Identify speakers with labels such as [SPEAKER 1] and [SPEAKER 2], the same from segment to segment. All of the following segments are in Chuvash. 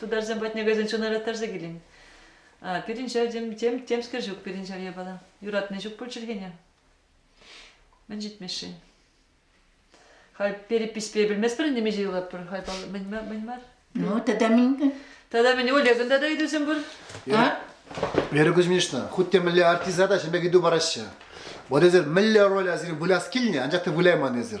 [SPEAKER 1] тутарсем патне кайсан чуна ыраттарса килен. пирӗн ҫав тем, тем, темскер ҫук пирӗн ҫав япала. Юратни ҫук пуль чӗлхене. Мӗн ҫитмешши? Хай перепиҫпе белместпӗр нимеҫе юлатпӑр. Хай мӗн мар? Ну, тата мӗн?
[SPEAKER 2] Тата мӗн, Олегӑн
[SPEAKER 1] тата ыйтусем пур?
[SPEAKER 2] Вера
[SPEAKER 3] Кузьминична, хуть те мӗнле артиста та ҫӗмпе ыйту параҫҫӗ. Вот эсир мӗнле роль асире выляс килнӗ, анчах та выляйман эсир.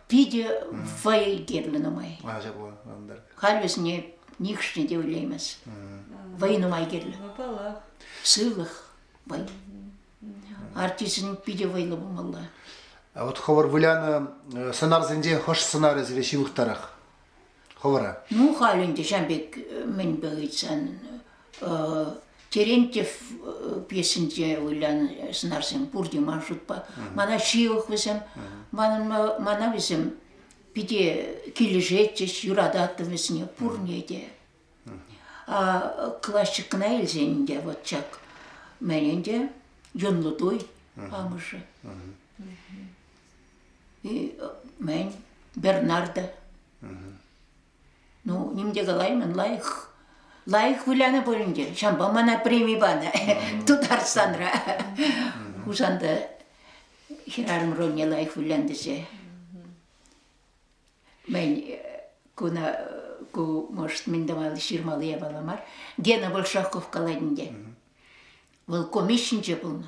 [SPEAKER 3] Питӗ
[SPEAKER 2] вӑй кирлӗ нумай. Ача пулан ӑнтар.
[SPEAKER 3] Халь вӗсене
[SPEAKER 2] нихшне те ойлаймас. Вӑй нумай кирлӗ. Вӑпалах.
[SPEAKER 1] Сывлӑх,
[SPEAKER 2] вӑй. Артистӑн питӗ вӑйлӑ пулмалла. А вот
[SPEAKER 3] хӑвӑр вылянӑ сӑнарсенчен хӑш сӑнарӗ сире ҫывӑхтарах? Хӑвӑра? Ну, халь ӗнтӗ
[SPEAKER 2] ҫав пек мӗнпе ыйтсан Терентьев пьесинче вылянӑ сӑнарсем пурте ман шутпа. Мана ҫывӑх вӗсем, мана вӗсем питӗ килӗшетчӗҫ, юрататтӑм вӗсене пурне те. Классикна илсен ӗнтӗ вот ҫак мӗн ӗнтӗ, юнлы туй амӑшӗ. И мӗн, Бернарда. Ну, ним те калаймӑн, лайӑх, лайӑх вылянӑ пулин те, ҫавӑнпа мана преми панӑ Тутарстанра. Хусанта хӗрарӑм рольне лайӑх вылянтӗчӗ. Мӗн, куна ку может мӗн тӑвал ҫырмалли япала мар. Гена Большаков калать ӗнтӗ. Вӑл комичнче пулнӑ.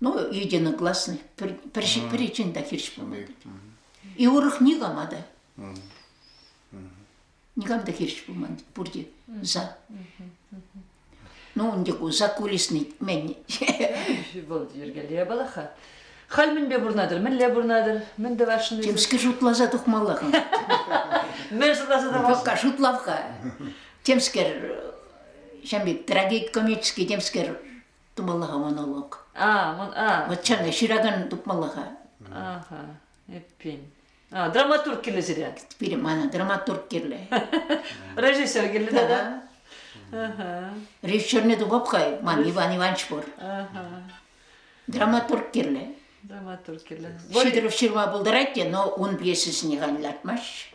[SPEAKER 2] Ну, единогласный. Пӗр, пӗр, пӗрчин та хирӗҫ пулман. И урӑх никама та. Никам та хирӗҫ пулман пурте за. Ну, ун тек за кулисный мен. Бұл
[SPEAKER 1] йөргеле балаха. Хал мӗнпе пурнатӑр, мӗнле пурнатӑр, мӗн тӑвашшӑн? Темске шутласа
[SPEAKER 2] тухмалла-ха.
[SPEAKER 1] Мӗн шутласа тӑвас? Пока шутлав-ха.
[SPEAKER 2] Темскер, ҫам пек трагедь комический, темскер тумалла-ха монолог. А, вон, а. Вот чарна ҫыракан тупмалла-ха. Аха,
[SPEAKER 1] эппин. А, драматург кирлӗ сире? Пире мана драматург
[SPEAKER 2] кирлӗ. Режиссер
[SPEAKER 1] кирлӗ да? Аха. Режиссерне
[SPEAKER 2] тупап-хай, ман Иван Иванович пур. Аха. Драматург кирлӗ. Драматург
[SPEAKER 1] кирлӗ. Ҫитерев ҫырма
[SPEAKER 2] пултарать те, но ун пьесисене халь лартмасть.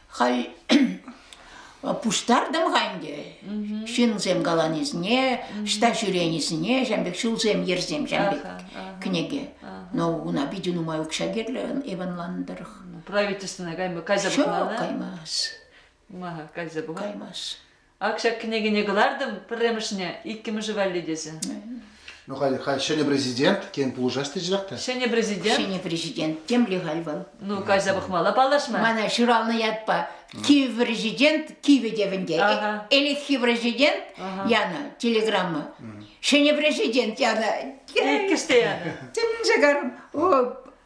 [SPEAKER 1] Хай
[SPEAKER 2] пуҫтартӑм-ха ӗнтӗ ҫынсем каланисене, ӑҫта ҫӳренисене, ҫавӑн пек ҫулсем, йӗрсем, ҫавӑн пек кӗнеке. Но уна питӗ нумай укҫа кирлӗ Иванланӑ тӑрӑх. Правительствӑна
[SPEAKER 1] кайма кайса пӑхман,
[SPEAKER 2] да?
[SPEAKER 1] Каймас. Каймас. Ак
[SPEAKER 2] ҫак кӗнекене
[SPEAKER 1] кӑлартӑм пӗрремӗшне, иккӗмӗшӗ валли тесе. Ну халь,
[SPEAKER 3] халь ҫӗнӗ президент, тен пулӑшас теччӗрех те. Ҫӗнӗ президент? Ҫӗнӗ
[SPEAKER 1] президент.
[SPEAKER 2] Темле халь вӑл? Ну, кайса пӑхмалла
[SPEAKER 1] паллашма. Мана ҫуралнӑ ятпа
[SPEAKER 2] Киев президент кивӗ тевӗнте. Ага. Ӗлӗкхи президент янӑ телеграмма. Ҫӗнӗ президент янӑ. Иккӗш те янӑ.
[SPEAKER 1] Тӗнче карӑм.
[SPEAKER 2] О,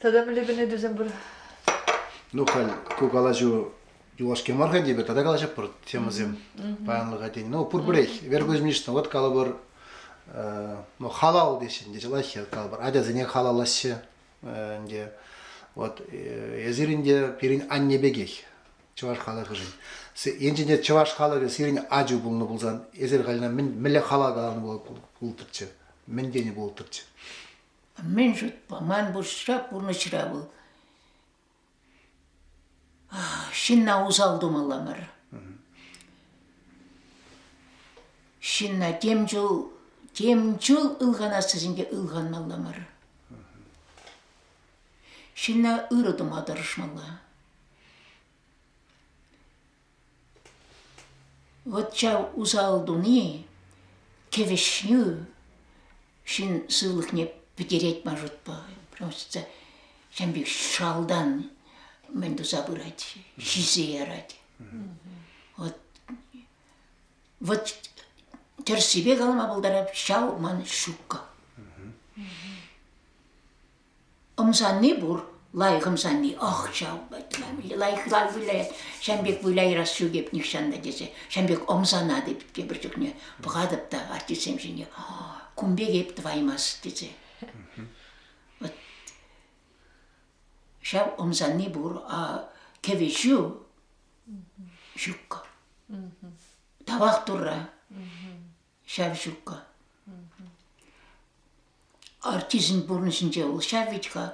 [SPEAKER 1] Тата мӗнле кӗнекесем пур? Ну,
[SPEAKER 3] халь ку калаҫу юлашки мар-ха типӗ, тата калаҫӑпӑр темӑсем паянлӑха тени. Ну, пурпӗрех, Вергузмишна, вот калӑпӑр, ну, халал теҫҫӗ, ӗнтӗ ҫӑлаҫҫӗ, калӑпӑр, ачасене халаллаҫҫӗ, ӗнтӗ. Вот, эсир ӗнтӗ пирӗн анне пекех, чӑваш халӑхӗшӗн. Енчен чӑваш халӑхӗ сирӗн ачу пулнӑ пулсан, эсир халь мӗнле хала каланӑ пултӑрччӗ? мӗн тенӗ пултӑрччӗ? Мӗн
[SPEAKER 2] шутпа, ман пурнӑҫра, пурнӑҫра вӑл ҫынна усал тумалла мар. Ҫынна тем чул, тем чул ылханасса сенке ылханмалла мар. Ҫынна ырӑ тума тӑрӑшмалла. Вӑт ҫав усал туни Кӗвӗҫнӳ ҫын сывлӑхне пӗтерет ма шутпа. Просто ҫын пек шалтан мӗн туса пырать, ҫисе ярать. Вӑт, вӑт тӗрӗссипе калама пултарать ҫав ман ҫукка. ӑмсанни пур, лайӑх ӑмсанни, ӑх, ҫав, лайӑх ывал вылять, ҫан пек выляйрас ҫӳкеп нихҫан та тесе, ҫан пек ӑмсанать эп тепӗр чухне, пӑхатӑп та артистсем ҫине, кун пек эп тӑваймас тесе. Вот ҫав ӑмсанни пур, а кӗвӗҫӳ ҫукка. Тавах Турра. Ҫавҫукка. Артистӑн пурнӑҫӗнче вӑл ҫав вӗт-ха.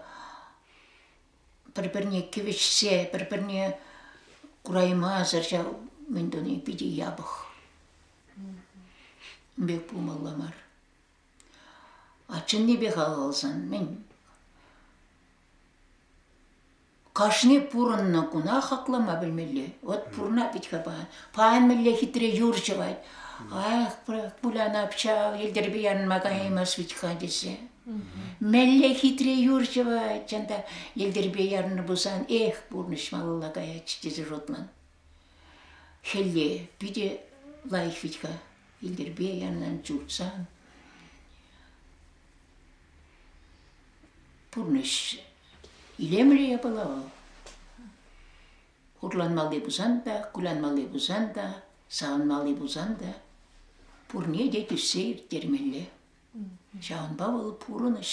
[SPEAKER 2] Пӗр-пӗрне кӗвӗҫсе, пӗр-пӗрне кураймасӑр ҫав мӗн туни питӗ япӑх. Пек пулмалла мар. А чӑннипе халалсан мӗн Кашни пурӑннӑ куна хаклама пӗлмелле. Вот пурӑна пит-ха паян. Паян мӗнле хитре юр ҫӑвать. Ах, пулян обща, йӗлтӗрпе янма каяймас вӗт-ха тесе. Мӗнле хитре юр ҫӑвать, чӑн та йӗлтӗрпе ярнӑ пулсан, эх, пурнӑҫ малалла каять тесе шутлан. Хӗлле питӗ лайӑх вӗт-ха йӗлтӗрпе янан чуртсан. Пурнӑҫ илемлӗ япала вӑл. Хурланмалли пулсан та, кулянмалли пулсан та, савӑнмалли пулсан та пурне те тӳссе ирттермелле. Ҫавӑнпа вӑл пурӑнӑҫ.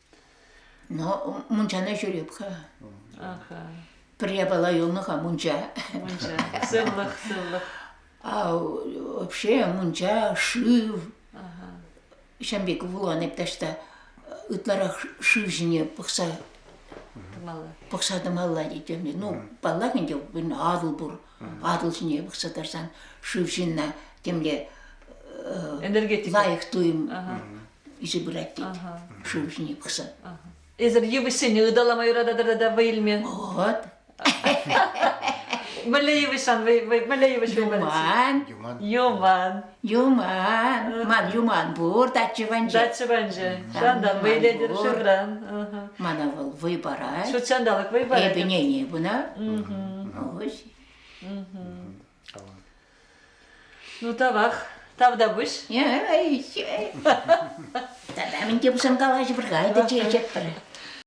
[SPEAKER 2] Но мунчана ҫӳреп-ха. Аха. Пӗр япала юлнӑ-ха мунча. Мунча.
[SPEAKER 1] Сывлӑх, сывлӑх.
[SPEAKER 2] А вообще мунча, шыв. Ҫам пек вулан эп таҫта ытларах шыв ҫине пӑхса пӑхса тӑмалла тетем. Ну, паллах ӗнтӗ, атӑл пур. Атӑл ҫине пӑхса тӑрсан шыв ҫынна темле
[SPEAKER 1] лайӑх туйӑм
[SPEAKER 2] Ише пырать тет. Шыв ҫине пӑхса. Эсир
[SPEAKER 1] йывӑҫсене ыталама юрататӑр та вӑй илме? Вот. Мӗнле йывӑҫсан вӑй мӗнле йывӑҫ Юман.
[SPEAKER 2] Юман.
[SPEAKER 1] Юман.
[SPEAKER 2] Ман юман пур дача ванче. Дача ванче.
[SPEAKER 1] Ҫантан вӑйлетӗр шурран. Мана вӑл
[SPEAKER 2] вӑй парать. Ҫут ҫанталӑк вӑй парать.
[SPEAKER 1] Эпӗ нене бuna.
[SPEAKER 2] Ось.
[SPEAKER 1] Ну тавах, тавтапуҫ. Эй,
[SPEAKER 2] тата мӗн
[SPEAKER 1] те
[SPEAKER 2] пулсан калаҫӑпӑр-ха, это чечет пӗр.